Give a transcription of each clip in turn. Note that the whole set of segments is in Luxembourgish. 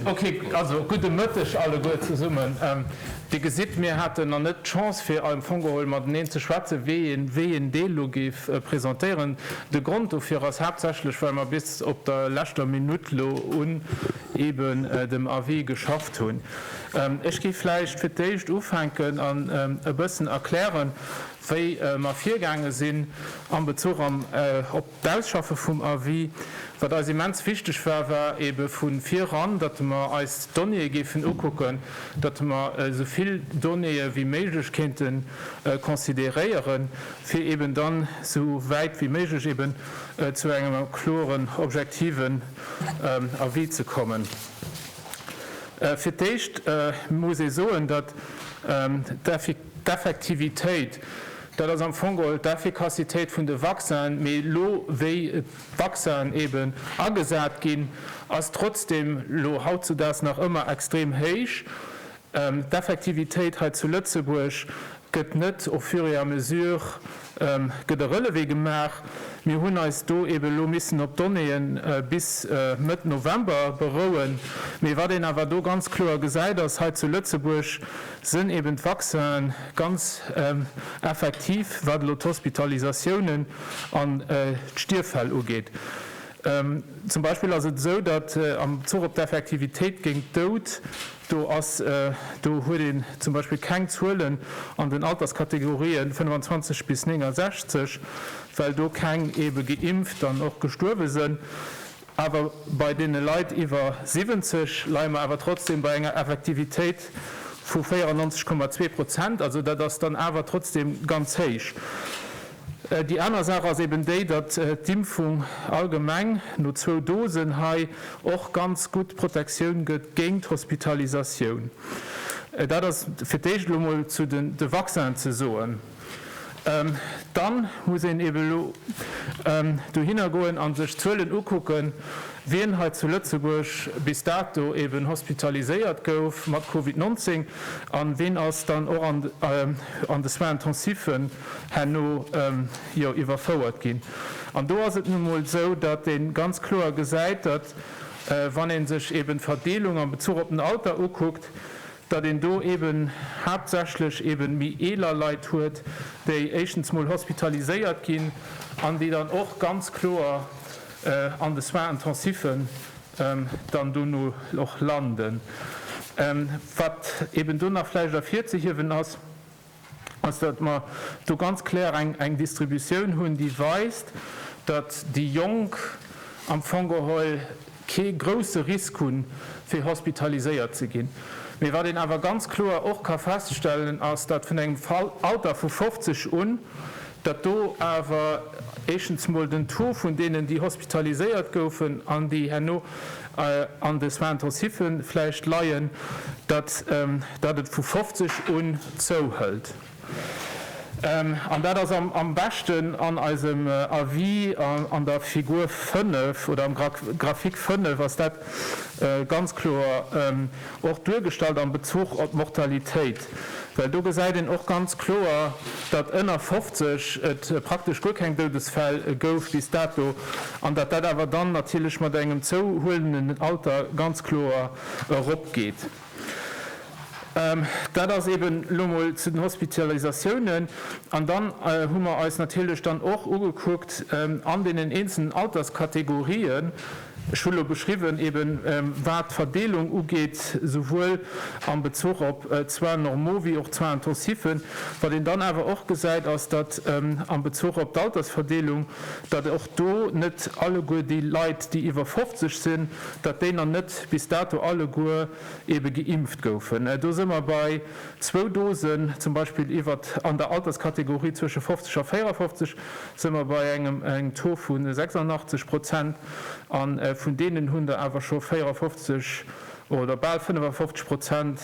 Ok, also gudde Mëtteg alleguer zesummen. Dir gesitt, mir haten nach net d'Chance fir am Fong geholl mateneen ze schwätzen, wéi een Deel elo géif presentéieren. De Grond dofir ass haaptsächlech, well mer bis op der leschter Minutt elo un eeben dem Avis geschafft hunn. Ech géif vläicht fir d'éischt ufänken an e bëssen erklären, wéi mer virgaange sinn am Bezuch op, D'Ausschaffe vum Avis, wat eis immens wichteg war, war ebe vu viran, datt mer eis d'Donnéeë géifen ukucken, datt mer esou vill Donnéeë wéi méiglech kéinte consideréieren, fir eben dann esou wäit wéi méiglech eben zu engem kloren, objektiven Avis ze kommen. Fir d'éischt muss ee soen, datt d'Effi. D'Effektivitéit, dat ass am Fong geholl d'Effikassitéit vun de Vaccinen, mee elo wéi d'Vaccinen eeben agesat ginn, ass trotzdeem elo hautzedaags nach ëmmer extrem héich. D'Effektivitéit hei zu Lëtzebuerg gëtt net au fur et à mesure gëtt e Relevé gemaach. Mir hunn eis do eebe lo missen op Donnéeë bis Mëtt November berouen. Mee wat een awer do ganz kloer gesäit ass, hei zu Lëtzebuerg sënn eeben d'Vaccine ganz effektiv, wat elo d'Hospitalisatiounen an d'Stierffäll ugeet. Zum Beispill ass et esou, datt am Bezuch op d'Effektivitéit géint d'Dout Do ass, do huet een zum Beispill keng Zuelen an den Alterskategorien 25 bis 69, well do keng ebe geimpft an och gestuerwe sënn. Awer bei deene Leit iwwer 70 leie mer awer trotzdem bei enger Effektivitéit vu 94,2 Prozent. Also dat ass dann awer trotzdem ganz héich. Déi aner Saach ass eben déi, datt d'Impfung allgemeng no zwou Dosen hei och ganz gutt Protektioun gëtt géint d'Hospitalisatioun. Dat ass fir d'éischt elo emol zu de Vaccinen ze soen. Dann muss een eben elo dohinner goen a sech d'Zuelen ukucken, wien hei zu Lëtzebuerg bis dato eben hospitaliséiert gouf mat Covid 19 a wien ass dann och an de Soins intensiffe herno jo iwwerfouert ginn. An do ass et nun emol esou, datt ee ganz kloer gesäit, datt, wann ee sech eeben d'Verdeelung am Bezuch op den Alter ukuckt, datt een do eeben haaptsächlech eeben méi eeler Leit huet, déi éischtens emol hospitaliséiert ginn an déi dann och ganz kloer an de Soins intensiven dann dono och landen. Wat eeben do nach vläicht ervirzehiewen ass, ass, datt mer do ganz kloer eng Distributioun hunn, déi weist, datt déi Jonk am Fong geholl kee grouse Risk hunn, fir hospitaliséiert ze ginn. Mee wat een awer ganz kloer och ka feststellen, ass, datt vun engem Alter vu 50 un datt do awer éischtens mol den Taux vun deenen, déi hospitaliséiert goufen an déi herno an de Soins intensiffe vläicht leien, datt datt et vu 50 un zouhëlt. An dat ass am beschten an eisem Avis an der Figur 5 oder am Graphique 5 ass dat ganz kloer och duergestallt am Bezuch op d'Mortalitéit. Well do gesäit een och ganz kloer, datt ënner 50 et praktesch guer keng Doudesfäll gouf bis dato an datt dat awer dann natierlech mat engem zouhuelenden Alter ganz kloer eropgeet. Dat ass eben elo mol zu den Hospitalisatiounen. An dann hu mer eis natierlech dann och ugekuckt an deenen eenzelen Alterskategorien, Ech hu lo geschriwwen, eben wat d'Verdeelung ugeet, souwuel am Bezuch op d'Soins normaux wéi och d'Soins intensifs. Wat een dann awer och gesäit, ass, datt am Bezuch op d'Altersverdeelung, datt och do net alleguer déi Leit, déi iwwer 50 sinn, datt déi nach net bis dato alleguer ebe geimpft goufen. Do si mer bei zwou Dosen zum Beispill iwwert an der Alterskategorie zwësche 50 a 54. sou mer bei engem engem Taux vu 86 Prozent, a vun deenen hunn der awer scho 54 oder bal 55 Prozent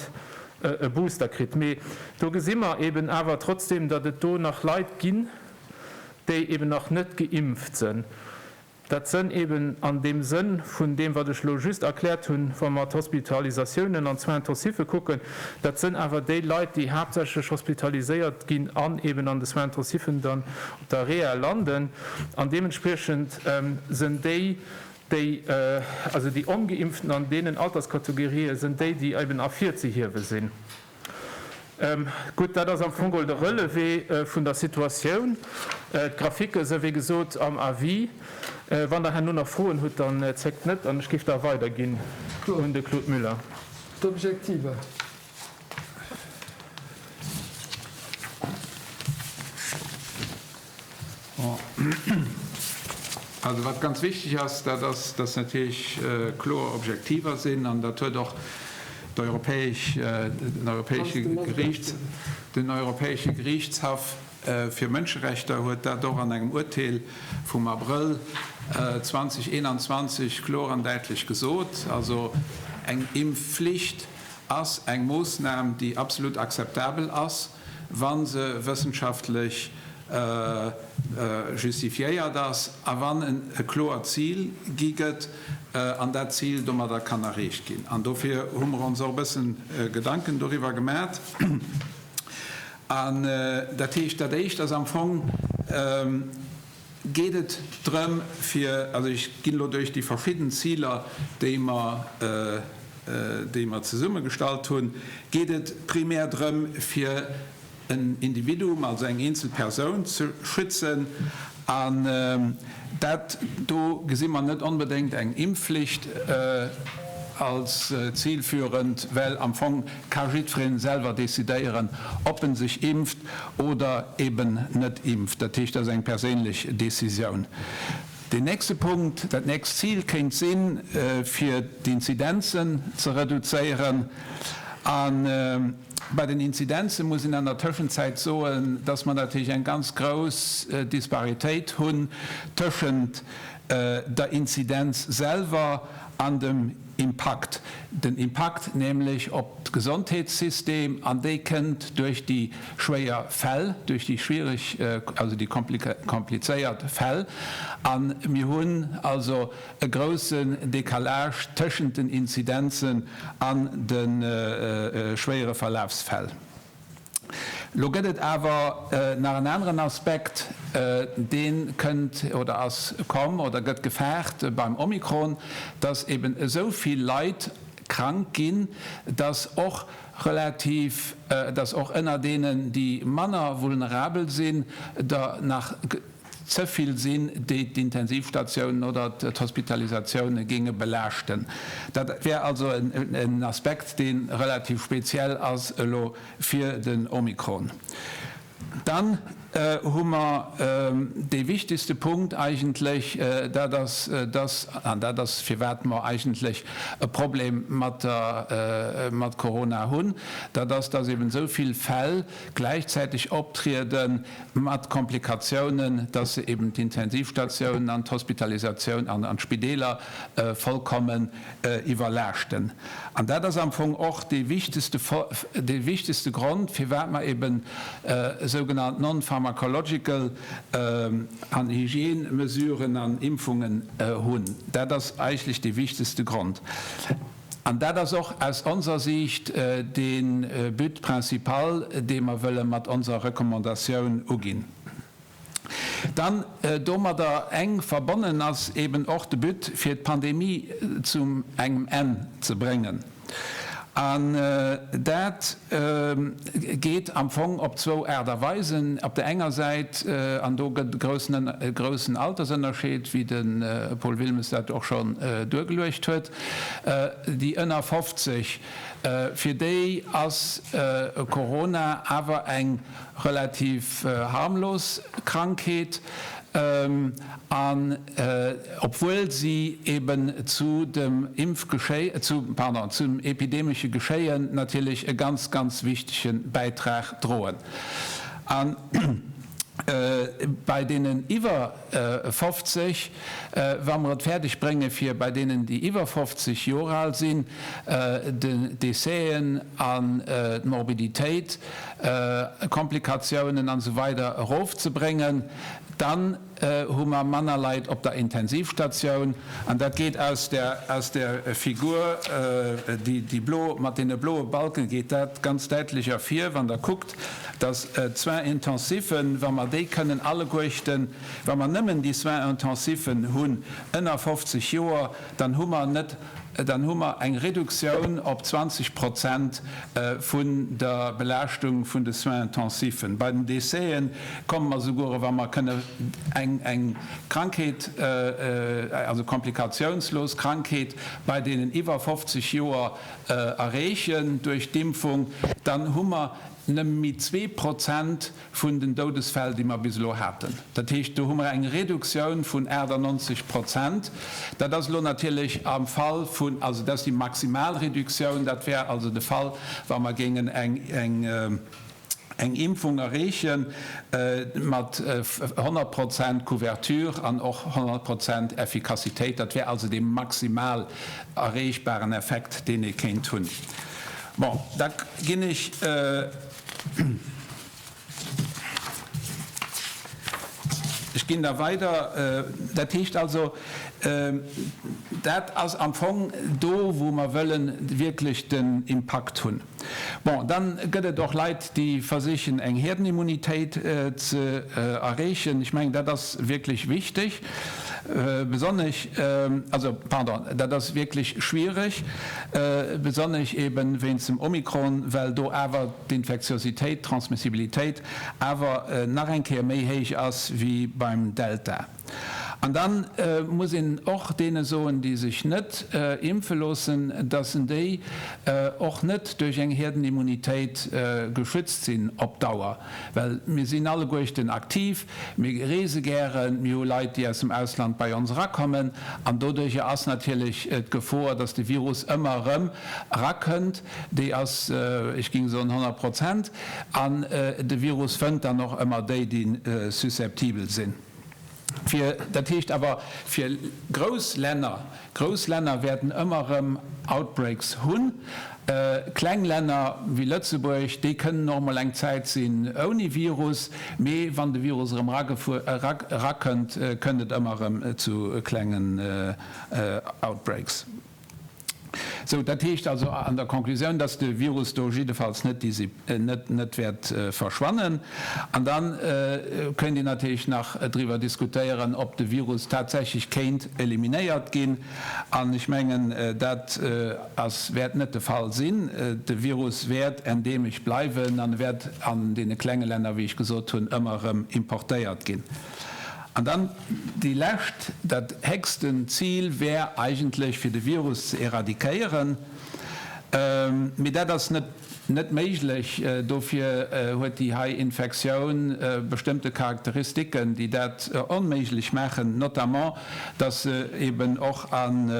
e Booster kritt. Mee do gesi mer eeben awer trotzdem, datt et do nach Leit ginn, déi eeben nach net geimpft sënn. Dat sënn eben an deem Sënn vun deem, wat ech elo just erkläert hunn, wa mer d'Hospitalisatiounen an d'Soins-intensiffe kucken, dat sënn awer déi Leit, déi haaptsächlech hospitaliséiert ginn an eben an de Soins-intensiffen dann op der Rehal landen. An deementspriechend sënn déi, déi, also déi Ongeimpften an deenen Alterskategorië sënn déi, déi eben ervirzehiewe sinn. Gutt, dat ass am Fong geholl de Relevé vun der Situatioun. D'Graphiken sou wéi gesot am Avis. Wann Der herno nach Froen hutt, dann zéckt net an ech géif da weiderginn un de Claude Müller. D'Objektiver. Also wat ganz wichteg ass, dat ass, dass natierlech kloer Objektiver sinn, an dat huet och den Europäesche Geriichtshaff fir Mënscherechter huet dat och an engem Urteel vum Abrëll 2021 kloer an däitlech gesot. Also eng Impfflicht ass eng Moossnam, déi absolut akzeptabel ass. wa se wëssenschaftlech justifiéiert ass a wann e kloert Zil gi gëtt an dat Zil domadder kann erreecht ginn. An dofir hu mer ons och e bëssen Gedanken doriwwer gemat. An dat heescht, dat Éischt ass am Fong, geet et drëm fir, also ech ginn elo duerch déi verschidden Ziler, déi mer, déi mer zesummegestallt hunn, geet et primär drëm fir en Individuum, also eng eenzel Persoun ze schützen. An dat do gesi mer net onbedéngt eng Impfflicht als zilführend, well am Fong, ka jiddwereen selwer decidéieren, ob en sech impft oder eben net impft. Dat heescht, dat ass eng perséinlech Décisioun. Deen nächste Punkt, dat nächst Zil kéint sinn, fir d'Inzidenzen ze reduzéieren. A bei den Inzidenzen muss een an der Tëschenzäit soen, dass mer natierlech eng ganz grouss Disparitéit hunn tëschent der Inzidenz selwer an dem Impakt, den Impakt nämlech op d'Gesondheetssystem, an dee kënnt duerch déi schwéier Fäll, duerch déi schwiereg, also déi komplizéiert Fäll. A mir hunn also e groussen Decalage tëschent den Inzidenzen an de schwéiere Verlafsfäll. Lo gëtt et awer nach en aneren Aspekt, dee kënnt oder ass komm oder gëtt gefaart beim Omikron, dass eeben esou vill Leit krank ginn, dass och relativ, dass och ënner deenen, déi manner vulnerabel sinn, der nach Ze vill sinn, déi d'Intensivstatiounen oder d'Hospitalisatioune géinge belaaschten. Dat wär also en Aspekt, dee relativ speziell ass elo fir den Omikron. Dann hu mer dee wichtegste Punkt eigentlech, dat ass dass, an dat ass firwat mer eigentlech e Problem mat Corona hunn, dat ass, dass eeben esou vill Fäll gläichzäiteg optriede mat Komplikatiounen, dass se eben d'Intensivstatiounen an d'Hospitalisatioun an d'Spideeler vollkommen iwwerlaaschten. An dat ass am Fong och dee wichtegste Grond, firwat mer eben sougenannt non-pharmacological an Hygiène-Mesuren an Impfungen hunn. Dat ass eigentlech dee wichtegste Grond. An dat ass och aus onser Siicht de But principal, dee mer wëlle mat onser Recommandatioun uginn. Dann, domadder enk verbonnen, ass eeben och de But, fir d'Pandemie zu engem Enn ze bréngen. An dat geet am Fong op zwou Aart a Weisen. Op där enger Säit, an do gëtt e groussen Altersënnerscheed, wéi de Paul Wilmes dat och schonn duergeluecht huet, Déi ënner 50, fir déi ass Corona awer eng relativ harmlos Krankheet, an obwuel si eben zu dem epidemesche Geschéien natierlech e ganz, ganz wichtege Bäitrag droen. An bei deenen iwwer. 50, wa mer et fäerdeg bréngen, fir bei deenen, déi iwwer 50 Joer al sinn, den Décèsen an d'Morbiditéit, Komplikatiounen an esou weider erofzebréngen, dann hu mer manner Leit op der Intensivstatioun. An dat geet aus der Figur, déi blo mat deene bloe Balken, geet dat ganz däitlech ervir, wann Der kuckt, Et ass d'Soins intensiven, wa mer déi kënnen alleguechten, wa mer nëmmen déi Soins intensiven hunn ënner 50 Joer, dann hu mer net, dann hu mer eng Reduktioun op 20 Prozent vun der Belaaschtung vun de Soins intensiven. Bei den Décèsë komme mer souguer, wa mer kënnen eng Krankheet, also komplikatiounslos Krankheet bei deenen iwwer 50 Joer erreechen duerch d'Impfung, dann hu mer, Nëmme zwee Prozent vun den Doudesfäll, déi mer bis elo haten. Dat heescht, do hu mer eng Reduktioun vun 98 Prozent. Dat ass elo natierlech am Fall vun, also dat ass déi maximal Reduktioun, dat wär also de Fall, wa mer géingen eng Impfung erreeche mat 100 Prozent Couverture an och 100 Prozent Effikassitéit. Dat wär also dee maximal erreechbaren Effekt, deen ee kéint hunn. Bon, da ginn ech da weider. Dat heescht also, dat ass am Fong do, wou mer wëlle wierklech den Impakt hunn. Bon, da gëtt et och Leit, déi versichen, eng Herdenimmunitéit ze erreechen. Ech mengen, dat ass wierklech wichteg. Besonnesch, also pardon, dat ass wierklech schwierig, besonnesch eebe wéinst dem Omikron, well do awer d'Infektiositéit, d'Transmissibilitéit awer nach eng Kéier méi héich ass wéi beim Delta. An da muss een och deene soen, déi sech net impfe loossen, dass en déi och net duerch eng Hierdenimmunitéit geschützt sinn op Dauer. Well mir sinn alleguechten aktiv, mir reese gären, mir hu Leit, déi aus dem Ausland bei ons erakommen, an doduercher ass natierlech d'Gefor, dass de Virus ëmmer erëm erakënnt, déi ass, ech géing soen, 100 Prozent. An de Virus fënnt dann och ëmmer déi, déi susceptibel sinn. Fir, dat heescht awer fir grouss Länner, grouss Länner wäerten ëmmer erëm Outbreaks hunn. Kleng Länner wéi Lëtzebuerg, déi kënnen och emol eng Zäit sinn ouni Virus, mee wann de Virus erëm erakënnt, kënnt et ëmmer erëm zu klengen Outbreaks. Sou, dat heescht also an der Conclusioun, dass de Virus do jiddefalls net wäert verschwannen. An da kéint een natierlech nach driwwer diskutéieren, ob de Virus tatsächlech kéint eliminéiert ginn. An ech mengen, dat wäert net de Fall sinn. De Virus wäert endemesch bleiwen an e wäert an deene klenge Länner, wéi ech gesot hunn, ëmmer erëm importéiert ginn. An dann déi lescht, dat héchsten Zil wär eigentlech, fir de Virus ze eradiquéieren. Mee dat ass net méiglech. Dofir huet déi hei Infektioun bestëmmte Charakteristiken, déi dat onméiglech maachen, notamment, dass se eben och an,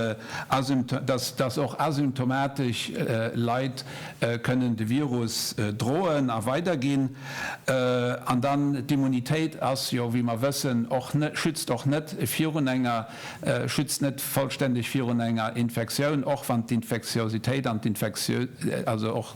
dass och asymptomatesch Leit kënnen de Virus droen a weiderginn. An dann, d'Immunitéit ass jo, wéi mer wëssen, och net, schützt och net virun enger, schützt net vollständeg virun enger Infektioun, och wann d'Infektiositéit an d'Infektio-, also och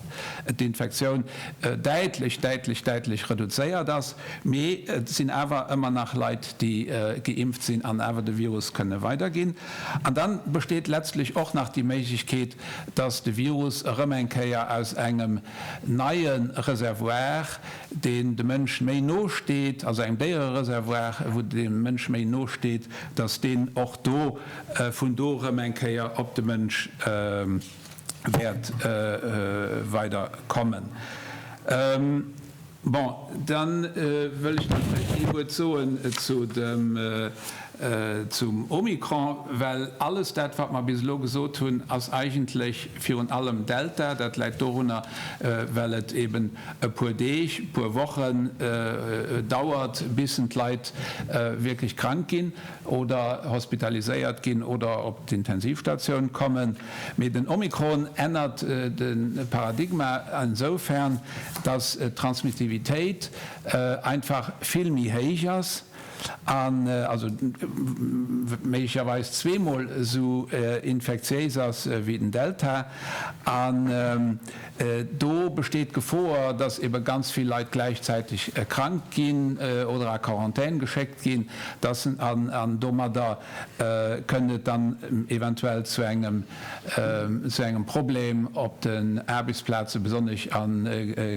d'Infektioun däitlech, däitlech, däitlech reduzéiert ass. Mee et sinn awer ëmmer nach Leit, déi geimpft sinn an awer de Virus kënne weiderginn. An dann besteet letztlech och nach déi Méiglechkeet, dass de Virus erëm eng Kéier aus engem neie Reservoir, deen dem Mënsch méi no steet, also engem Déierereservoir, wou de Mënsch méi no steet, datt deen och do vun do erëm eng Kéier op de Mënsch wäert weider kommen. Bon, da wëll ech nach vläicht ee Wuert soen zum Omikron, well alles dat, wat mer bis elo gesot hunn, ass eigentlech virun allem Delta. Dat läit dorunner, well et eeben e puer Deeg, e puer Wochen dauert, bis d'Leit wierklech krank ginn oder hospitaliséiert ginn oder op d'Intensivstatioun kommen. Mee den Omikron ännert de Paradigma esoufern, datt d'Transmissivitéit einfach vill méi héich ass, also méiglecherweis zweemol esou infektiéis ass wéi den Delta. An do besteet d'Gefoer, datt ebe ganz vill Leit gläichzäiteg krank ginn oder a Quarantän geschéckt ginn, datt se domadder Kënnt et dann eventuell zu engem Problem op den Aarbechtsplazen, besonnesch a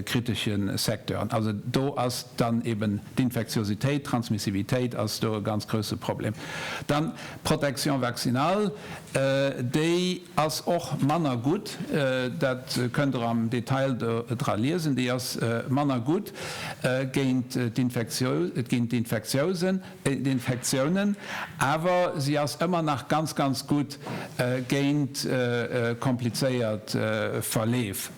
kritesche Secteuren? Also do ass dann eeben d'Infektiositéit, d'Transmissivitéit ass do e ganz grousse Problem. Dann d'Protection vaccinale, déi ass och manner gutt, dat kënnt Der am Detail do dra liesen, déi ass manner gutt géint d'Infektiousen. Infektiounen, awer si ass ëmmer nach ganz, ganz gutt géint komplizéiert Verleef.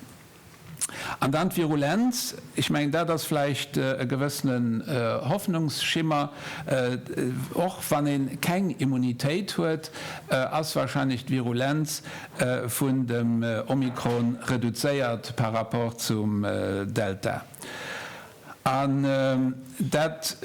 An dann d'Virulenz, ech mengen, dat ass vläicht e gewëssene Hoffnungsschimmer. Och wann ee keng Immunitéit huet, ass wahrscheinlech d'Virulenz vun dem Omikron reduzéiert par rapport zum Delta. An dat,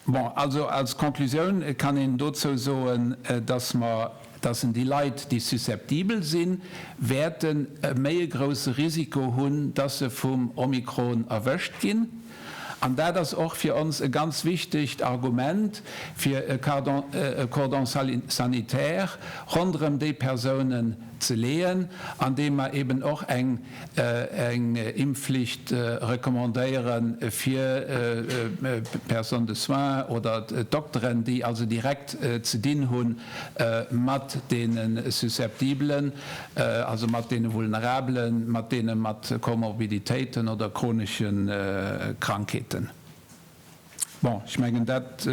bon, also als Conclusioun kann een dozou soen, dass mer, dass en déi Leit, déi susceptibel sinn, wäerten e méi e grouse Risiko hunn, dass se vum Omikron erwëscht ginn. An dat ass och fir ons e ganz wichtegt Argument, fir e Cordon sanitaire ronderëm déi Persounen ze leeën, andeem mer eeben och eng. eng Impfflicht recommandéieren fir d'Personne de soins oder d'Dokteren, déi also direkt ze dinn hu mat deene Susceptibelen, also mat deene Vulnerabelen, mat deene mat Komorbiditéiten oder chronesche Krankheeten. Bon, ech mengen, dat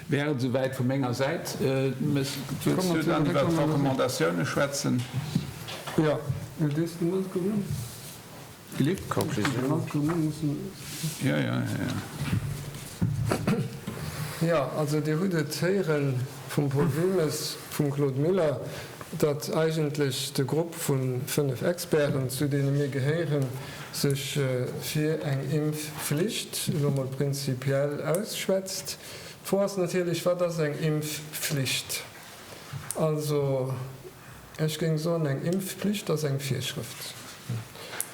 wär et esouwäit vu menger Säit. Wëlls du dann iwwert d'Recommandatioune schwätzen? Jo, ech léist déi ganz guer un. Philippe? D'Conclusioun? Jo, jo. Jo, also Dir hutt et héieren. vum Paul Wilmes, vum Claude Muller, datt eigentlech de Grupp vu fënnef Experten, zu deene mir gehéieren, sech fir eng Impfflicht elo mol prinzipiell ausschwätzt. D'Fro ass natierlech, Wat ass eng Impfflicht? Also. Ech géing soen, eng Impfpflicht ass eng Virschrëft.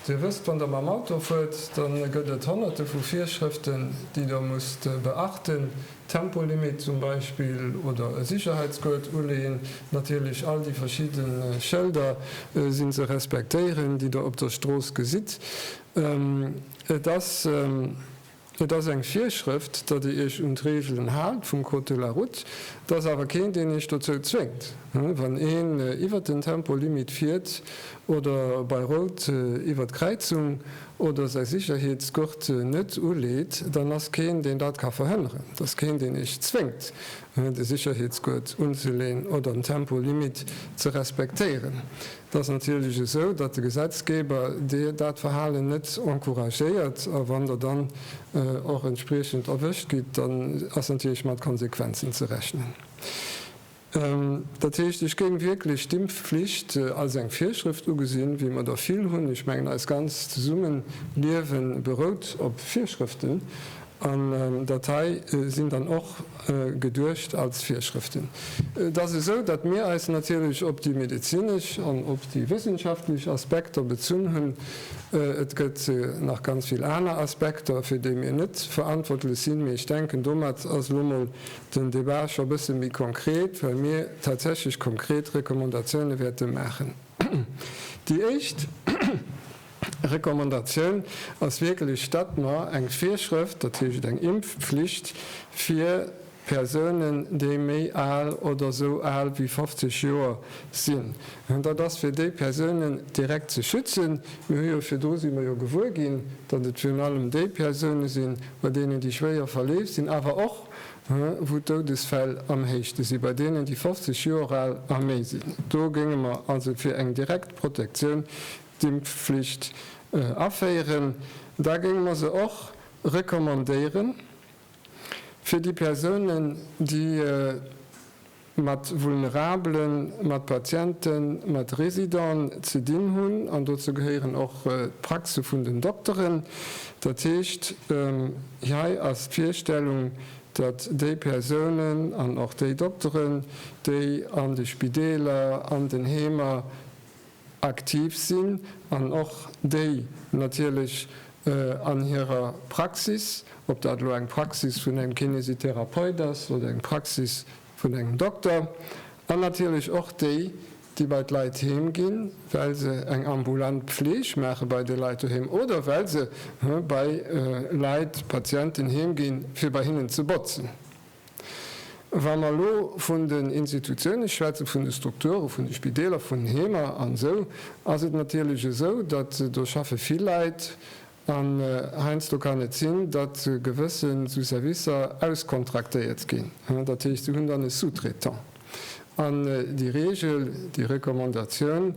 Dir wësst, wann Der mam Auto fuert, da gëtt et Honnerte vu Virschrëften, déi Der musst beachten, Tempolimit zum Beispill oder e Sicherheitsguert uleeën, natierlech all déi verschidde Schëlder si ze respektéieren, déi Der op der Strooss gesitt. Et ass. Et ass eng Virschrëft, datt Dir Iech un d'Reegelen haalt vum Code de la Route. Et ass awer keen, deen Iech dozou zwéngt. Wann een iwwert den Tempolimit fiert oder bei Rout iwwert d'Kräizung oder säi Sicherheetsgurt net uleet, dann ass keen, deen dat ka verhënneren. Et ass keen, deen Iech zwéngt, de Sicherheetsgurt unzeleeën oder den Tempolimit ze respektéieren. Et ass natierlech esou, datt de Gesetzgeber dat Verhalen net encouragéiert. A wann Der dann och entspriechend erwëscht gitt, dann ass natierlech mat Konsequenzen ze rechnen. Dat heescht, ech géing wierklech d'Impfflicht als eng Virschrëft ugesinn, wéi mer der vill hunn. Ech mengen, eist ganzt Zesummeliewe berout op Virschrëften. An dat hei sinn dann och geduecht als Virschrëften. Et ass esou, datt mir eis natierlech op déi medezinesch an op déi wëssenschaftlech Aspekter bezunn hunn. Et gëtt nach ganz vill aner Aspekter, fir déi mir net verantwortlech sinn. Mee ech denken, domat ass elo mol den Debat scho bësse méi konkret, well mir tatsächlech konkret Recommandatioune wäerte maachen. Déi éischt. Recommandatioun ass wierklech, datt mer eng Virschrëft, dat heescht eng Impfpflicht fir Persounen, déi méi al oder esou al wéi 50 Joer sinn hunn. Dat ass fir déi Persounen direkt ze schützen. Mir hu jo virdru si mer jo gewuer ginn, datt et virun allem déi Persoune sinn, bei deenen déi schwéier verleeft sinn, awer och wou d'Doudesfäll am héischste sinn, bei deenen déi 50 Joer al a méi sinn. Do géinge mer also fir eng direkt Protektioun D'impfflicht aféieren, da géinge mer se och recommandéiere fir déi Persounen, déi mat Vulnerabelen, mat Patienten, mat Residenten ze dinn hunn, an dozou gehéieren och d'Praxe vun den Dokteren. Dat heescht, hei ass d'Virstellung, datt déi Persounen an och déi Dokteren, déi an de Spideeler, an den Heemer, aktiv sinn an och déi natierlech an hirer Praxis, ob dat elo eng Praxis vun engem Kinesitherapeut ass oder eng Praxis vun engem Dokter, an natierlech och déi, déi bei d'Leit heem ginn, well se eng ambulant Pfleg maache bei de Leit doheem oder well se bei Leit, Patienten, heem ginn, fir bei hinnen ze botzen. Wa mer elo vun den Institutiounen schwätzen, vun de Strukturen, vun de Spideeler, vun Heemer an esou, ass et natierlech esou, datt do schaffe vill Leit an heiansdo kann et sinn, datt gewësse sou Servicer auskontraktéiert ginn, dat heescht, se hunn dann e Sous-traitant. An déi Reegel, déi Recommandatioun,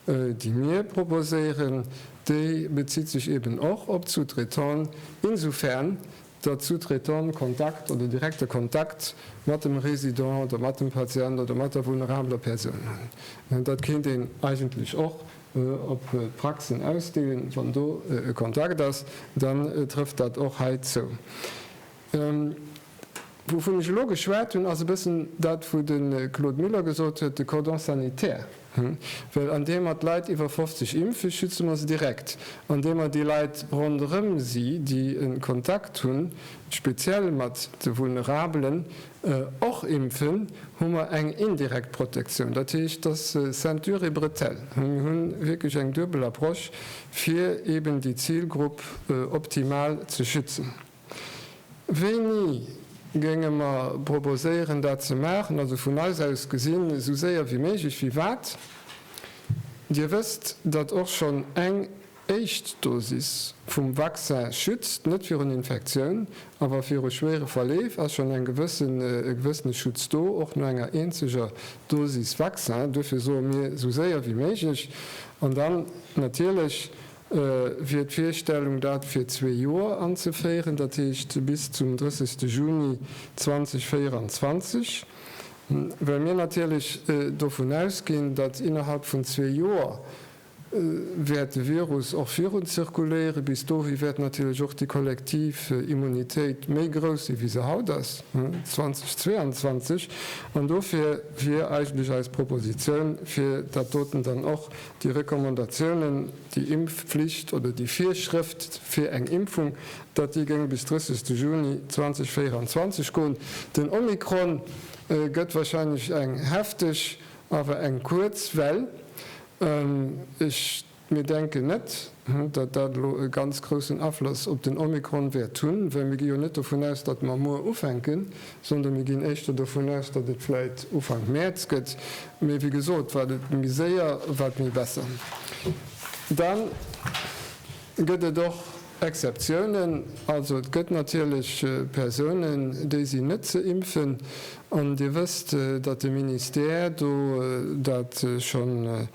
déi mir proposéieren, déi bezitt sech eeben och op d'Sous-traitanten, insofern Der Sous-Traitant Kontakt oder direkte Kontakt mat dem Résident oder mat dem Patient oder mat der vulnerabeler Persoun hunn. Dat kéint een eigentlech och op d'Praxen ausdeenen. Wann do e Kontakt ass, dann trëfft dat och hei zou. Wouvun ech elo geschwat hunn, ass e bëssen dat, wou de Claude Muller gesot huet, de Cordon sanitaire. Well andeem mer d'Leit iwwer 50 impfen, schütze mer se direkt. Andeem mer déi Leit ronderëm si, déi e Kontakt hunn, speziell mat de Vulnerabelen, och impfen, hu mer eng indirekt Protektioun. Dat heescht, dass Ceinture et bretelle. Mir hunn wierklech eng duebel Approche, fir eeben déi Zilgrupp optimal ze schützen. Wéini géinge mer proposéieren, dat ze maachen? Also vun eis aus gesinn, esou séier wéi méiglech. Wéi wat? Dir wësst, datt och schonn eng éischt Dosis vum Vaccin schützt, net virun Infektioun, awer viru schwéiere Verleef ass schonn e gewëssene Schutz do, och no enger eenzeger Dosis Vaccin. Duerfir soe mir, esou séier wéi méiglech. An dann natierlech wier d'Virstellung dat fir zwee Joer anzeféieren, dat heescht bis zum 30 Juni 2024, well mir natierlech dovun ausginn, datt innerhalb vun zwee Joer wäert de Virus och virun zirkuléieren. Bis dohi wäert natierlech och déi kollektiv Immunitéit méi grouss sinn, wéi se haut ass, 2022, an dofir wier eigentlech eis Propositioun, fir dat doten dann och Déi Recommandatiounen, déi Impfflicht oder déi Virschrëft fir eng Impfung, dat déi géing bis 30 Juni 2024 goen. Den Omikron gëtt wahrscheinlech eng hefteg awer eng kuerz Well. Ech, mir denken net, Datt dat elo e ganz groussen Afloss op den Omikron wäert hunn, well mir gi jo net dovun aus, datt mer muer ufänken, sondern mir ginn éischter dovun aus, datt et vläit Ufank Mäerz gëtt. Mee wéi gesot, wat et méi séier, wat méi besser. Dann gëtt et och Exceptiounen. Also et gëtt natierlech Persounen, déi sinn net ze impfen. An Dir wësst, datt de Ministère do dat schonn.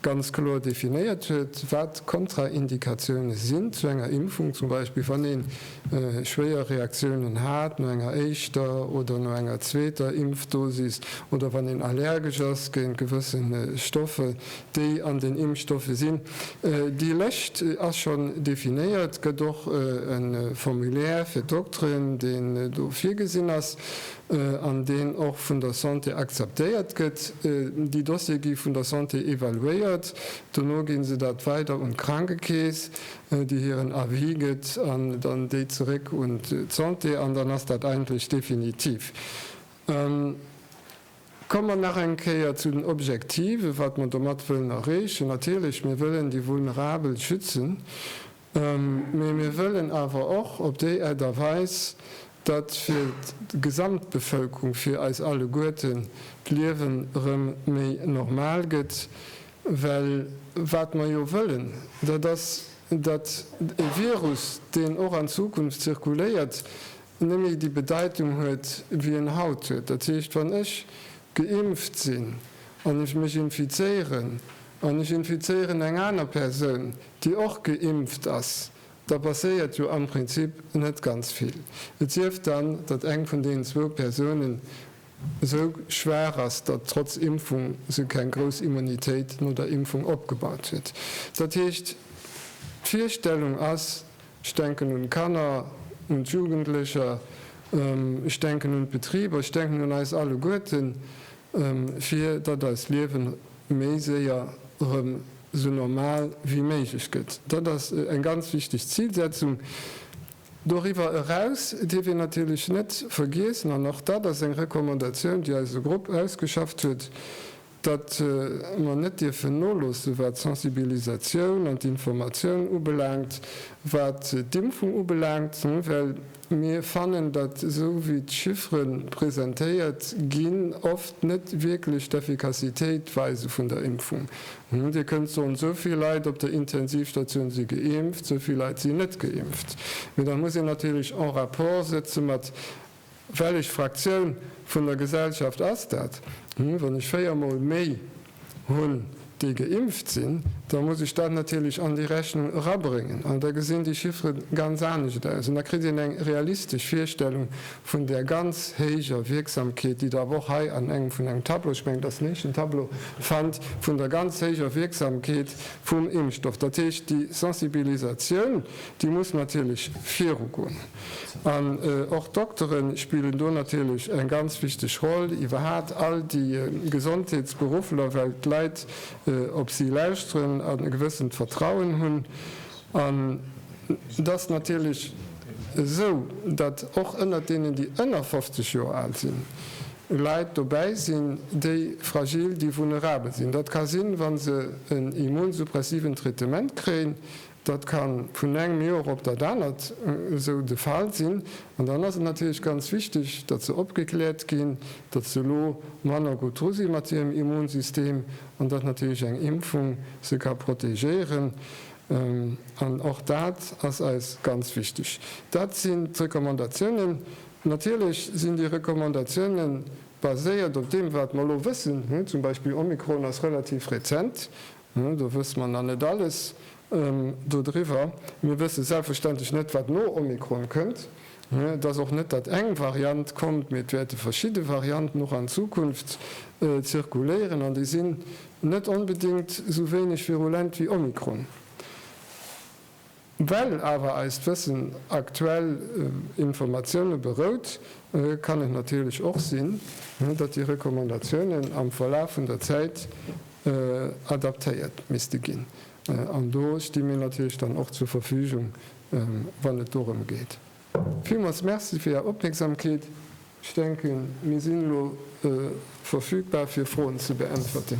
ganz kloer definéiert huet, wat Kontraindikatioune sinn zu enger Impfung, zum Beispill wann ee schwéier Reaktiounen hat no enger éischter oder no enger zweeter Impfdosis oder wann een allergesch ass géint gewësse Stoffe, déi an den Impfstoffe sinn. Déi Lëscht ass schonn definéiert, gëtt och e Formulaire fir d'Dokteren, deen do virgesinn ass. an deen och vun der Santé akzeptéiert gëtt. Déi Dossiere gi vun der Santé evaluéiert, dono gi se dat weider un d'Krankekeess, déi hiren Avis gëtt, an dann déi zeréck un d'Santé, an dann ass dat eigentlech definitiv. Komme mer nach eng Kéier zu den Objektiven, wat mer domat wëllen erreechen. Natierlech, mir wëllen déi Vulnerabel schützen. Mee mir wëllen awer och op déi Art a Weis, datt fir d'Gesamtbevölkerung, fir eis alleguerten d'Liewen erëm méi normal gëtt. Well wat mer jo wëllen, dat ass, datt e Virus, deen och an Zukunft zirkuléiert, nëmme déi Bedeitung huet, wéi en haut huet. Dat heescht, wann ech geimpft sinn an ech mech infizéieren an ech infizéieren eng aner Persoun, déi och geimpft ass, da passéiert jo am Prinzip net ganz vill, et sief dann, datt eng vun deenen zwou Persounen esou schwaach ass, datt trotz Impfung se keng grouss Immunitéit no der Impfung opgebaut huet. Dat heescht, d'Virstellung ass, ech denken un d'Kanner, un d'Jugendlecher, ech denken un d'Betriber, ech denken un eis alleguerten, fir datt eist Liewen méi séier erëm sou normal wéi méiglech gëtt. Dat ass eng ganz wichteg Zilsetzung. Doriwwer eraus dierf een natierlech net vergiessen, an och dat ass eng Recommandatioun, déi eise Grupp ausgeschafft huet, datt mer net dierfen noloossen, wat d'Sensibilisatioun an d'Informatioun ubelaangt, wat d'Impfung ubelaangt, well, Mir fannen, datt esou wéi d'Chiffere presentéiert ginn, oft net wierklech d'Effikassitéit weise vun der Impfung. Dir kënnt soen, esou vill Leit op der Intensivstatioun si geimpft, esou vill Leit sinn net geimpft. Mee da muss een natierlech en rapport sëtze mat, Wellech Fraktioun vun der Gesellschaft ass dat? Wann ech véier Mol méi. hunn, déi geimpft sinn, da muss ech dat natierlech an déi Rechnung erabréngen. An da gesinn déi Chiffere ganz anescht aus. An da kritt een eng realistesch Virstellung vun där ganz héijer Wierksamkeet, déi Der awer och hei an engem vun engem Tableau, ech mengen, dat ass den éischten Tableau, fannt, vun der ganz héijer Wierksamkeet vum Impfstoff. Dat heescht, déi Sensibilisatioun, déi muss natierlech virugoen. An och d'Doktere spillen do natierlech eng ganz wichteg Roll, iwwerhaapt all déi Gesondheetsberuffler, well d'Leit op si lauschteren an e gewëssent Vertrauen hunn. An et ass natierlech esou, datt och ënnert deenen, déi ënner 50 Joer al sinn, Leit dobäi sinn, déi fragil, déi vulnerabel sinn. Dat ka sinn, wa se en immunsuppressiven Traitement kréien, Dat ka vun engem Joer op dat anert esou de Fall sinn. An dann ass et natierlech ganz wichteg, datt se opgekläert ginn, datt se elo manner gutt dru si mat hirem Immunsystem an datt natierlech eng Impfung se ka protegéieren. An och dat ass eis ganz wichteg. Dat sinn d'Recommandatiounen. Natierlech sinn déi Recommandatioune baséiert op deem, wat mer elo wëssen, zum Beispill Omikron ass relativ rezent Do wësse mer nach net alles dodriwwer. Mir wësse selbstverständlech net, wat no Omikron kënnt. Et ass och net, datt eng Variant kommt, mee et wäerte verschidde Varianten och an Zukunft zirkuléieren, an déi sinn net onbedéngt esou wéineg virulent wéi Omikron. Well awer eist Wëssen aktuell Informatioune berout, kann et natierlech och sinn, datt déi Recommandatiounen am Verlaf vun der Zäit adaptéiert misste ginn. An do sti mir natierlech dann och zur Verfügung, wann et dorëm geet. Villmools Merci fir Är Opmierksamkeet. Ech denken, mir sinn elo verfügbar fir Froen ze beäntwerten.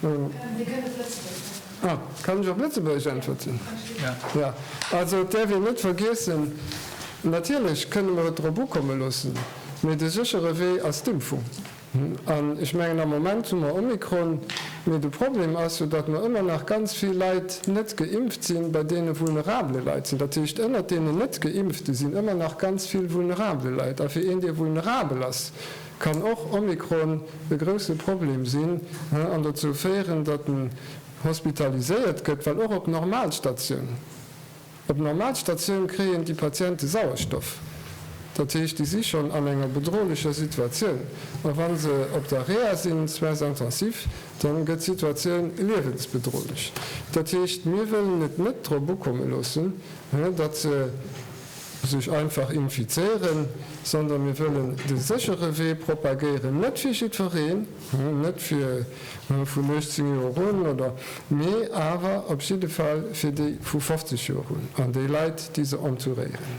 Dir kënnt op Lëtzebuergesch äntwerten. Ah, kann ech op Lëtzebuergesch äntwerten? Ja. Ja. Also, et däerf een net vergiessen, natierlech kënne mer et drop ukomme loossen, mee de séchere Wee ass d'Impfung. An ech mengen, am Moment hu mer Omikron, mee de Problem ass jo, datt mer ëmmer nach ganz vill Leit net geimpft sinn, bei deene vulnerabele Leit sinn. Dat heescht, ënnert deenen Net-Geimpfte sinn ëmmer nach ganz vill vulnerabele Leit. A fir een, dee vulnerabel ass, Kann och Omikron e grousse Problem sinn an dozou féieren, datt en hospitaliséiert gëtt? Well och op Normalstatioun, op Normalstatioun kréien déi Patiente Sauerstoff, dat heescht, déi si schonn an enger bedrohlecher Situatioun. A wa se op der Reha sinn, Soins intensifs, da gëtt d'Situatioun liewensbedrohlech. Dat heescht, mir wëllen et net drop ukomme loossen, datt se sech einfach infizéieren, sondern mir wëllen de séchere Wee propagéieren, net fir jiddwereen, net fir vun 18 Joer un oder, mee awer op jidde Fall fir déi vu 50 Joer un an déi Leit, déi se entouréieren.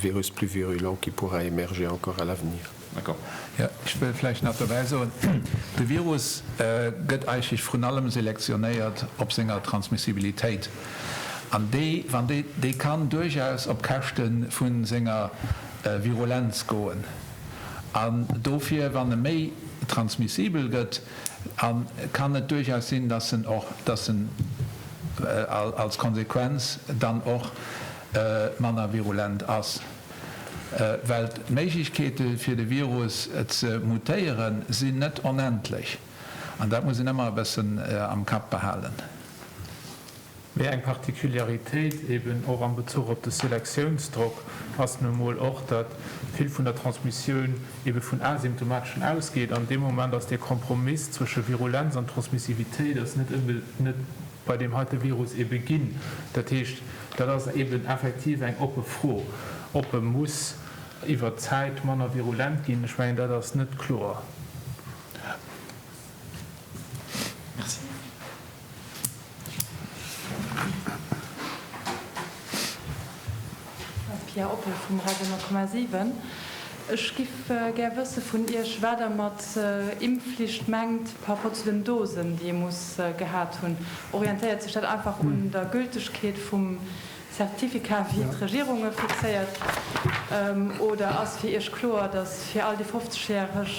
Virus plus virulent qui pourra émerger encore à l'avenir. Jo, ech wëll vläicht nach dobäi soen, De Virus gëtt eigentlech vrun allem selektionéiert op senger Transmissibilitéit. An déi, wann déi, déi kann duerchaus op Käschte vu senger Virulenz goen. An dofir, wann e méi transmissibel gëtt, kann et duerchaus sinn, dass en och, dass en als Konsequenz dann och, manner virulent ass, well d'Méiglechkeete fir de Virus ze mutéieren sinn net onendlech, an dat muss een ëmmer e bëssen am Kapp behalen. Mee eng Particularitéit, eben och am Bezuch op de Selektiounsdrock, ass nu emol och, datt vill vun der Transmissioun ebe vun Asymptomateschen ausgeet, an dee Moment ass dee Kompromiss zwësche Virulenz an Transmissivitéit ass net. bei deem heite Virus ebe ginn. Dat heescht, dat ass eben effektiv eng oppe Fro, ob e muss iwwert d'Zäit manner virulent ginn. Ech mengen, dat ass net kloer. Pia Oppel vum Radio 10,7. Ech giff gär wësse vun Iech, wat Der mat Impfflicht mengt par rapport zu den Dosen, déi ee muss gehat hunn. Orientéiert sech dat einfach un der Gültegkeet vum Certificat, wéi et d'Regierung e fixéiert, oder ass fir Iech kloer, datt fir all déi 50 Järeg,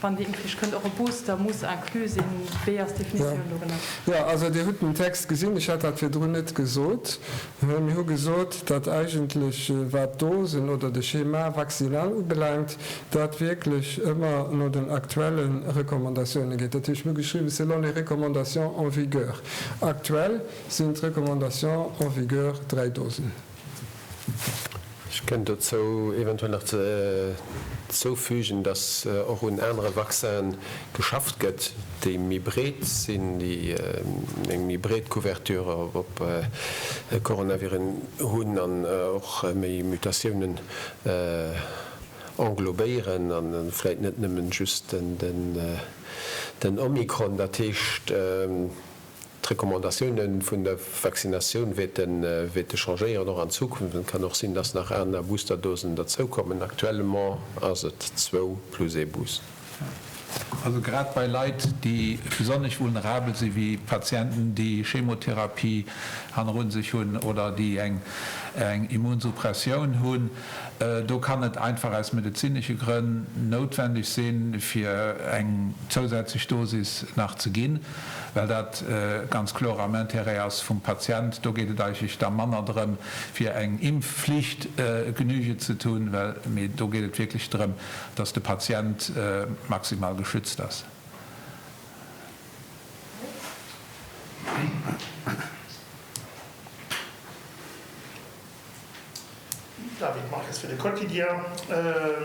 wann déi Impfflicht kënnt, och e Booster muss inclus sinn? Wéi ass d'Definitioun dorënner? Jo, also Dir hutt den Text gesinn, ech hat dat virdrun net gesot. Mir hu gesot, datt eigentlech, wat d'Dosen oder de Schéma vaccinal ubelaangt, dat wierklech ëmmer no den aktuelle Recommandatioune geet. Dat hu ech ugeschriwwen, selon les recommandations en vigueur. Aktuell sinn d'Recommandations en vigueur dräi Dosen. Ech kënnt dozou eventuell nach zoufügen, dass och un anere Vaccinen geschafft gëtt, déi méi breet sinn, déi eng méi breet Couverture op Coronaviren hunn an och méi Mutatiounen englobéieren a vläit net nëmmen just den Omikron. Dat heescht, D'Recommandatioune vun der Vaccinatioun wäerte changéieren, och an Zukunft. Et kann och sinn, dass nach aner Boosterdosen derzoukommen. Actuellement ass et zwou plus ee Booster. Also grad bei Leit, déi besonnesch vulnerabel sinn, wéi Patienten, déi Chemotherapie hanneru sech hunn oder déi eng Immunsuppressioun hunn, do kann et einfach aus medezinesche Grënn noutwendeg sinn, fir eng zousätzlech Dosis nach ze ginn. well dat ganz kloer am Intérêt ass vum Patient. Do geet et eigentlech da manner drëm, fir eng Impfflicht Genüge ze tun, well, mee do geet et wierklech drëm, dass de Patient maximal geschützt ass. David Marques fir de Quotidien,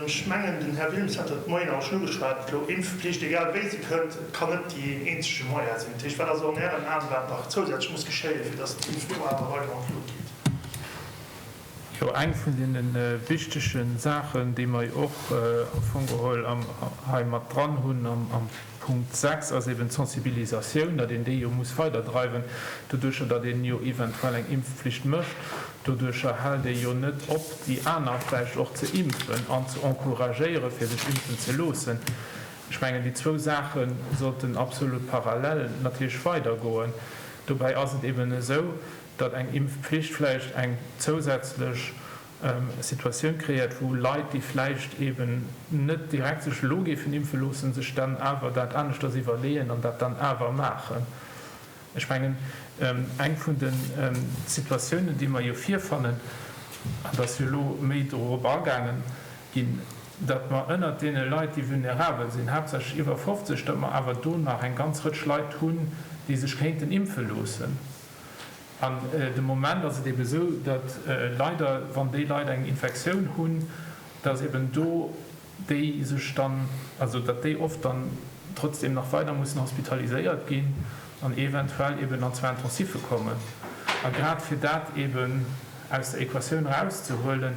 Ech mengen den Här Wilmes hat dat Moien awer schon ugeschwat elo, Impfpflicht, egal wéi se kënnt, kann net déi een eenzege Moyen sinn. Dat heescht, wat ass an Ären Aen, wat nach zousätzlech muss geschéien, fir datt d'Impfloi awer weider an d'Lut geet? Jo, eng vun deene wichtege Saachen, déi mer jo och am Fong geholl hei mat dran hunn am Punkt 6 ass eben d'Sensibilisatioun, datt een déi jo muss weiderdreiwen. Doduercher, datt een jo eventuell eng Impfpflicht mécht, doduercher hält ee jo net op, déi aner vläicht och ze impfen an ze encouragéieren, fir sech impfen ze loossen. Ech mengen, déi zwou Saache sollten absolut parallel natierlech weidergoen. Dobäi ass et eben esou, datt eng Impfpflicht vläicht eng zousätzlech Situatioun kreéiert, wou Leit, déi vläicht eeben net direkt sech elo géifen impfe loossen, sech dann awer dat aneschters iwwerleeën an dat dann awer maachen. Ech mengen, eng vun de Situatiounen, déi mer jo virfannen, an et ass jo elo méi dorop agaangen ginn, datt mer ënnert deene Leit, déi vulnerabel sinn, haaptsächlech iwwer 50, datt mer awer do nach eng ganz Rëtsch Leit hunn, déi sech kéinten impfe loossen. An de Moment ass et eebe esou, datt leider, wann déi Leit eng Infektioun hunn, datt eeben do déi sech dann, also datt déi oft dann trotzdem nach weider mussen hospitaliséiert ginn an eventuell eeben an zwar Intensiffe kommen. A grad fir dat eeben aus der Equatioun erauszehuelen,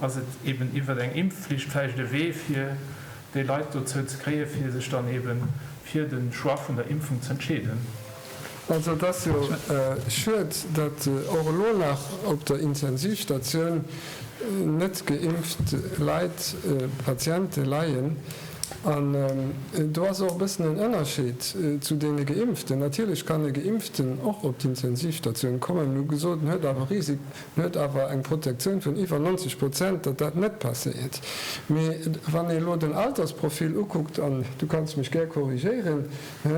ass et eeben iwwert eng Impfflicht vläicht e Wee, fir déi Leit dozou ze kréien, fir sech dann eebe fir de Choix vun der Impfung z'entscheeden. Also et ass jo schued, datt och elo nach op der Intensivstatioun net geimpft Leit, Patiente leien. An do ass och e bëssen en Ënnerscheed zu deene Geimpften. Natierlech kann e Geimpften och op d'Intensivstatioun kommen, mee hu gesot, en huet awer Risik, en huet awer eng Protektioun vun iwwer 90 Prozent, datt dat net passéiert. Mee wann ee elo den Altersprofil ukuckt, an du kanns mech gär korrigéieren,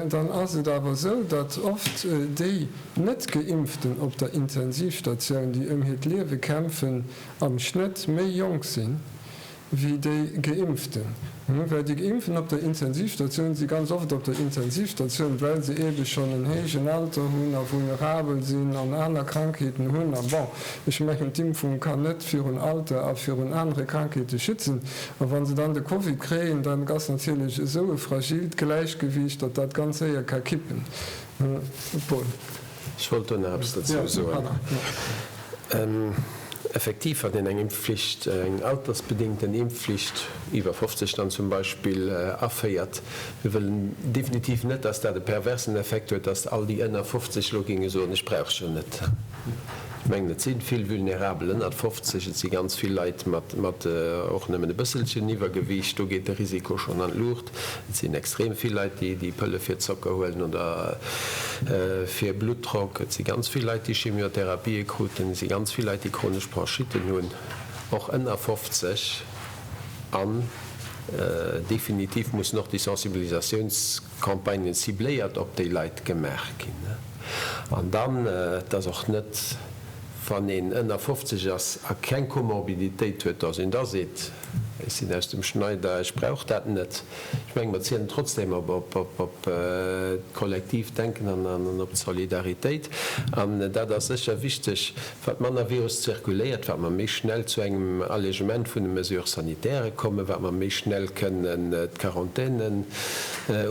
Dann ass et awer esou, datt oft déi Net-Geimpften op der Intensivstatioun, déi ëm hiert Liewe kämpfen, am Schnëtt méi jonk sinn, wéi déi Geimpften. Well déi Geimpften op der Intensivstatioun si ganz oft op der Intensivstatioun, well se eebe schonn en héijen Alter hunn a vulnerabel sinn an aner Krankheeten hunn. A bon, ech mengen, d'Impfung kann net virun Alter a virun anere Krankheete schützen. A wa se dann de Covid kréien, dann ass natierlech esou e fragilt Gläichgewiicht, datt dat ganz séier ka kippen. Paul. Ech wollt do nach eppes dozou soen. Effektiv hat een eng Impfflicht, eng altersbedingten Impfflicht, iwwer 50 dann zum Beispill, aféiert. Mir wëllen definitiv net, datt dat e perversen Effekt huet, datt all déi ënner 50 elo géinge soen, ech brauch se net. Ech mengen, et si vill vulnerabel ënnert 50, et si ganz vill Leit mat och nëmmen e bësselchen Iwwergewiicht, do geet de Risiko schonn an d'Luucht. Et sinn extrem vill Leit, déi Pëlle fir Zocker huelen oder fir Bluttdrock. Et si ganz vill Leit, déi Chemiotherapie kruten. Et si ganz vill Leit, déi chronesch Bronchitten hunn, och ënner 50. An definitiv mussen och déi Sensibilisatiouns. Campagnen cibléiert op déi Leit gemaach ginn an dann, et ass och net, wann een ënner 50 ass a keng Komorbiditéit huet, datt een da seet, ech sinn aus dem Schneider, ech brauch dat net. Ech mengen, mer zielen trotzdeem op d'Kollektivdenken an op d'Solidaritéit, an dat ass sécher wichteg, Wat manner Virus zirkuléiert, wat mer méi schnell zu engem Allégement vun de Mesures sanitaires kommen, wat mer méi schnell kënnen d'Quarantainen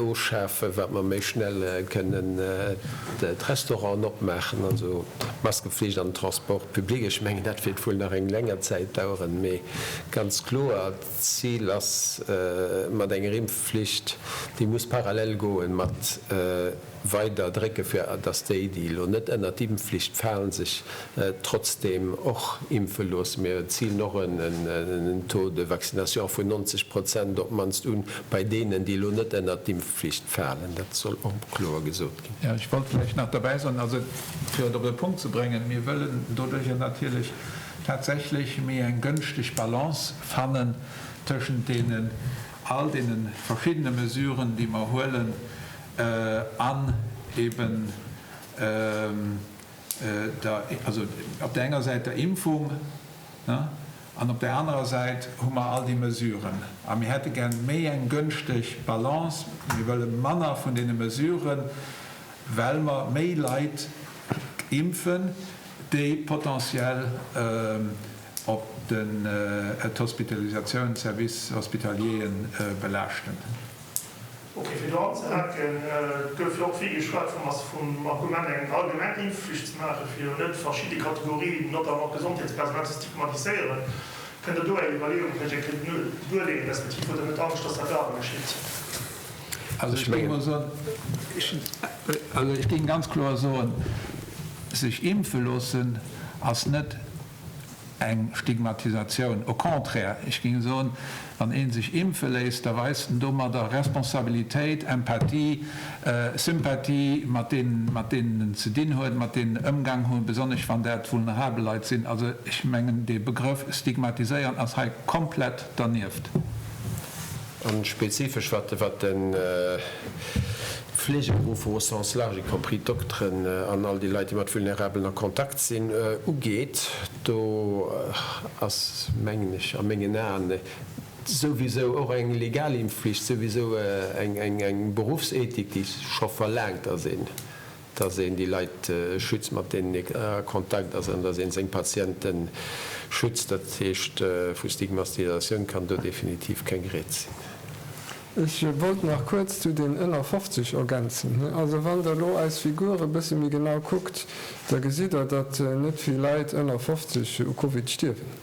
ofschafen, wat mer méi schnell kënnen d'Restauranten opmaachen, also d'Maskeflicht an den Transport public. Ech mengen, dat wäert wuel nach eng länger Zäit daueren, mee ganz kloer, d'Zil ass mat enger Impfflicht, déi muss parallel goen mat, Weider drécke fir dass déi, déi elo net ënnert d'Impfflicht falen, sech trotzdeem och impfe loossen. Mir zilen och en Taux de vaccination vun 90 Prozent op d'mannst un, bei deenen, déi elo net ënnert d'Impfflicht falen. Dat soll och kloer gesot ginn. Jo, ech wollt vläicht nach derbäi soen, also fir et op e Punkt ze bréngen, Mir wëllen doduerjer natierlech tatsächlech méi eng gënschteg Balance fannen tëschent deenen, all deene verschiddene Mesuren, déi mer huelen, an eben der, also op der enger Säit der Impfung an op der anerer Säit hu mer all déi Mesuren. A mir hätte gär méi eng gönschteg Balance. Mir wëlle manner vun deene Mesuren, well mer méi Leit impfen, déi potentiell op den d'Hospitalisatiounen, d'Services hospitalierien belaaschten. Okay, fir do anzehaken, Et gouf jo och vill geschwat vum As vum Argument, eng allgemeng Impfflicht ze maachen, fir jo net verschidde Kategorien, notamment d'Gesondheetspersonal, ze stigmatiséieren. Kënnt Der do Är Iwwerleeunge vläicht eng Kéier genue duerleeën, respektiv huet Der net Angscht, dass dat awer geschitt? Ech géing mol soen, also ech géing ganz kloer soen, sech impfe loossen ass net, eng Stigmatisatioun. Au contraire, ech géing soen, wann ee sech impfe léisst, da weist en domadder Responsabilitéit, Empathie, Sympathie mat deenen, mat deenen en ze dinn huet, mat deenen en ëmgaang huet, besonnesch wann dat vulnerabel Leit sinn. Also, ech mengen, dee Begrëff stigmatiséieren ass hei komplett dernieft. A spezifesch wat de. Fleegeberufer au sens large, y compris d'Dokteren an all déi Leit, déi mat Vulnerabelen a Kontakt sinn, ugeet, do ass, mengen ech, a mengen Aen souwisou och eng legal Impfflicht, souwisou eng Beruffsethik, déi scho verlaangt ass, een, dass een déi Leit schützt, mat deenen ee a Kontakt ass, an dass ee seng Patiente schützt. Dat heescht, vu Stigmatisatioun kann do definitiv keng Rieds sinn. Ech wollt nach kuerz zu den ënner 50 ergänzen. Also wann Der elo eis Figur e bësse méi genau kuckt, da gesitt Der, datt net vill Leit ënner 50 u Covid stierwen.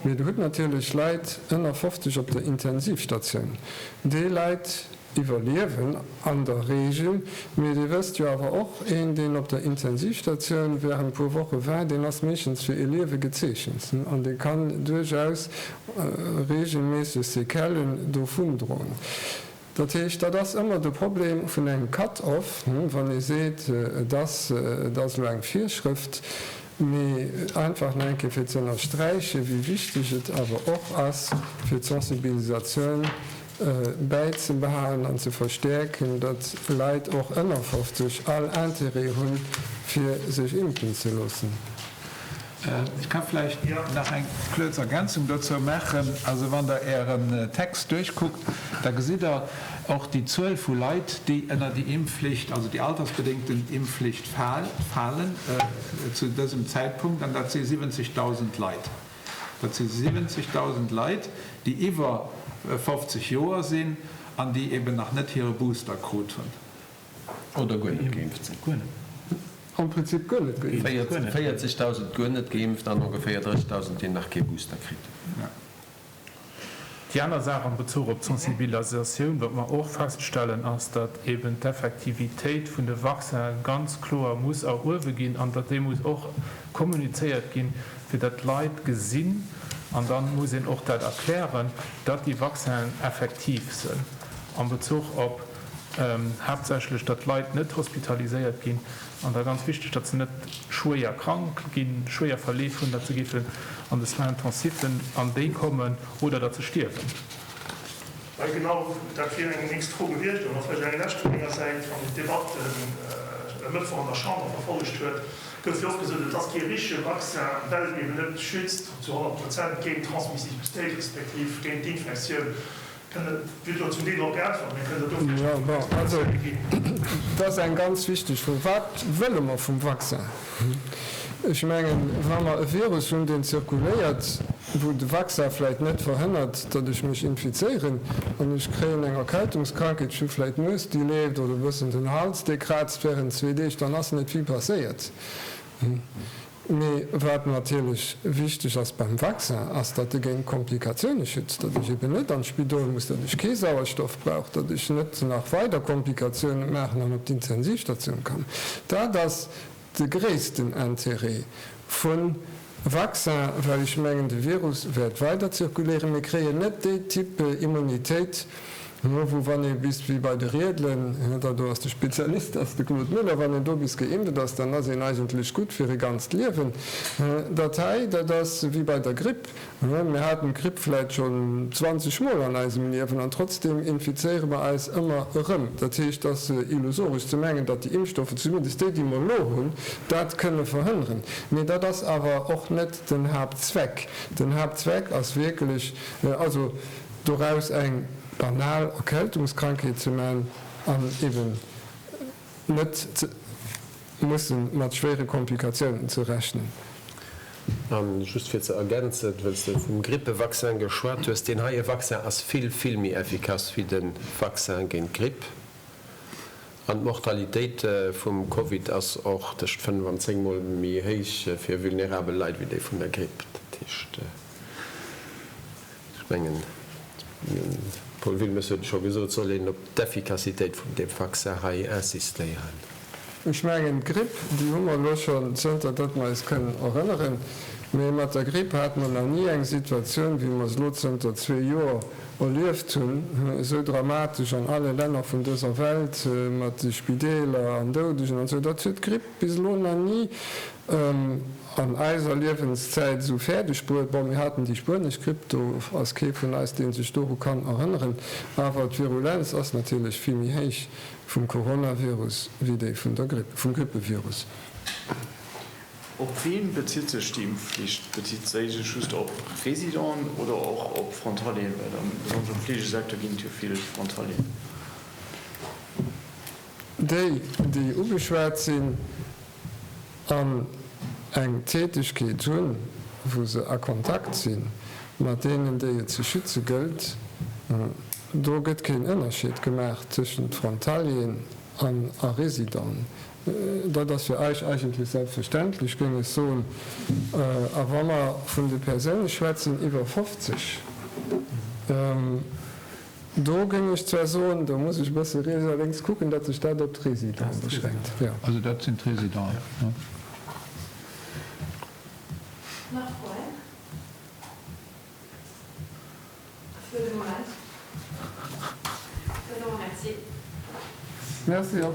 Mee Der hutt natierlech Leit ënner 50 op der Intensivstatioun. Déi Leit iwwerliewen an der Reegel. Mee Dir wësst jo awer och, een, deen op der Intensivstatioun während puer Woche war, deen ass meeschtens fir ee Liewe gezeechent an dee kann duerchaus reegelméisseg Sequellen dovun droen. Dat heescht, dat ass ëmmer de Problem vun engem Cut-off, wann ee seet, et ass elo eng Virschrëft, mee einfach nach eng Kéier fir ze ënnersträichen, wéi wichteg et awer och ass fir d'Sensibilisatioun, bäizebehalen an ze verstäerken, datt Leit och ënner 50 all Intérêt hunn, fir sech impfen ze loossen. Ech ka vläicht nach eng kuerz Ergänzung dozou maachen. Also wann Der Ären Text duerchkuckt, da gesitt Der och déi Zuel vu Leit, déi ënner déi Impfflicht, also déi altersbedéngten Impfflicht falen zu dësem Zäitpunkt, an dat si 70.000 Leit. Dat si 70.000 Leit, déi iwwer 50 Joer sinn an déi eben nach net hire Booster krut hunn oder guer net geimpft sinn. Am Prinzip guer net geimpft. 40.000 guer net geimpft an ongeféier 30.000, déi nach kee Booster kritt hunn. Déi aner Saach am Bezuch op d'Sensibilisatioun, wat mer och feststellen, ass, datt eeben d'Effektivitéit vun de Vaccinen ganz kloer muss eruewe ginn an datt déi muss och kommunizéiert ginn, fir datt d'Leit gesinn, an da muss een och dat erklären, datt déi Vaccinen effektiv sinn am Bezuch op haaptsächlech, datt d'Leit net hospitaliséiert ginn. An da ganz wichteg, datt se net schwéier krank ginn, schwéier Verleef hunn, datt se géifen an de Soins intensifs, an déi kommen, oder datt se stierwen. Well genau dat wier eng nächst Fro gewiescht. An da vläicht eng lescht vu menger Säit. Wann een d'Debatt e Mëttwoch an der Chamber verfollegt huet, gouf jo och gesot, et ass kee richtege Vaccin, well en eben net schützt zu 100 Prozent géint d'Transmissibilitéit, respektiv géint d'Infektioun. Dat ass eng ganz wichteg Fro. Wat wëlle mer vum Vaccin? Ech mengen, wa mer e Virus hunn, deen zirkuléiert, wou de Vaccin vläicht net verhënnert, datt ech mech infizéieren an ech kréien eng Erkältungskrankheet, ech hu vläicht d'Nues, déi leeft, oder e bëssen den Hals, dee kraazt wärend zwee Deeg, dann ass net vill passéiert. Mee wat natierlech wichteg ass beim Vaccin, ass datt e géint Komplikatioune schützt, datt ech eben net an d'Spidol muss, datt ech kee Sauerstoff brauch, datt ech net nach weider Komplikatioune maachen an op d'Intensivstatioun kann. Dat ass de gréissten Intérêt vu Vaccin, well ech mengen de Virus wäert weider zirkuléieren. Mir kréien net déi Type Immunitéit, Hu wou wann ee bis wéi bei de Riedelen, da do ass de Spezialist ass de Claude Müller, wann een do bis geimpft ass, dann ass een eigentlech gutt fir e ganzt Liewen. Dat hei, dat ass wéi bei der Gripp. Mir haten d'Gripp vläit schonn 20 Mol an eisem Liewen an trotzdeem infizéiere mer eis ëmmer erëm. Dat heescht, et ass illusoresch ze mengen, datt déi Impfstoffe, zumindest déi, déi mer elo hunn, dat kënne verhënneren. Mee dat ass awer och net den Haaptzweck. Den Haaptzweck ass wierklech, also. Doraus eng banal Erkältungskrankheet ze man an eben net ze mussen mat schwéiere Komplikatiounen ze rechnen. A just fir ze ergänzen, wëlls de vum Grippevaccin geschwat hues, deen heie Vaccin ass vill, vill méi effikass wéi de Vaccin géint d'Gripp an d'Mortalitéit vum Covid ass och tëscht 5 an 10 mol méi héich fir vulnerabel Leit wéi déi vun der Gripp. Ech mengen, de Paul Wilmes huet et scho gesot, et soll een op d'Effikassitéit vun deem Vaccin hei insistéieren. Ech mengen, d'Gripp, déi hu mer elo schonn, zënter datt mer eis kënnen erënneren, mee mat der Gripp hate mer nach ni eng Situatioun, wéi mer se elo zënter zwee Joer erlieft hunn, esou dramatesch an alle Länner vun dëser Welt, mat de Spideeler an Doudegen an esou. Dat huet d'Gripp bis elo nach ni. An eiser Liewenszäit esou fäerdeg bruet. Bon, mir haten déi spuenesch Gripp, do ass kee vun eis, dee sech doru kann erënneren. Awer d'Virulenz ass natierlech vill méi héich vum Coronavirus wéi déi vun der Gripp, vum Grippevirus. Op wien bezitt sech déi Impfflicht? Bezitt si sech just op Residenten oder och op Frontalieren? Well besonnesch am Fleegesecteur ginn et jo vill Frontalieren. Déi, déi ugeschwat sinn an eng Tätegkeet hunn, wou se a Kontakt si mat deenen, déi et ze schütze gëllt, do gëtt keen Ënnerscheed gemaach tëschent Frontalieren an a Résidenten. Dat ass fir eis eigentlech selbstverständlech, géing ech soen. A wa mer vun de Persoune schwätzen iwwer 50, Do géing ech zwar soen, do muss ech e bësse riets a lénks kucken, datt sech dat op d'Résidenten beschränkt, jo. Also dat sinn d'Résidenten. Nach Froen? Fir de Moment dann elo Merci. Merci och.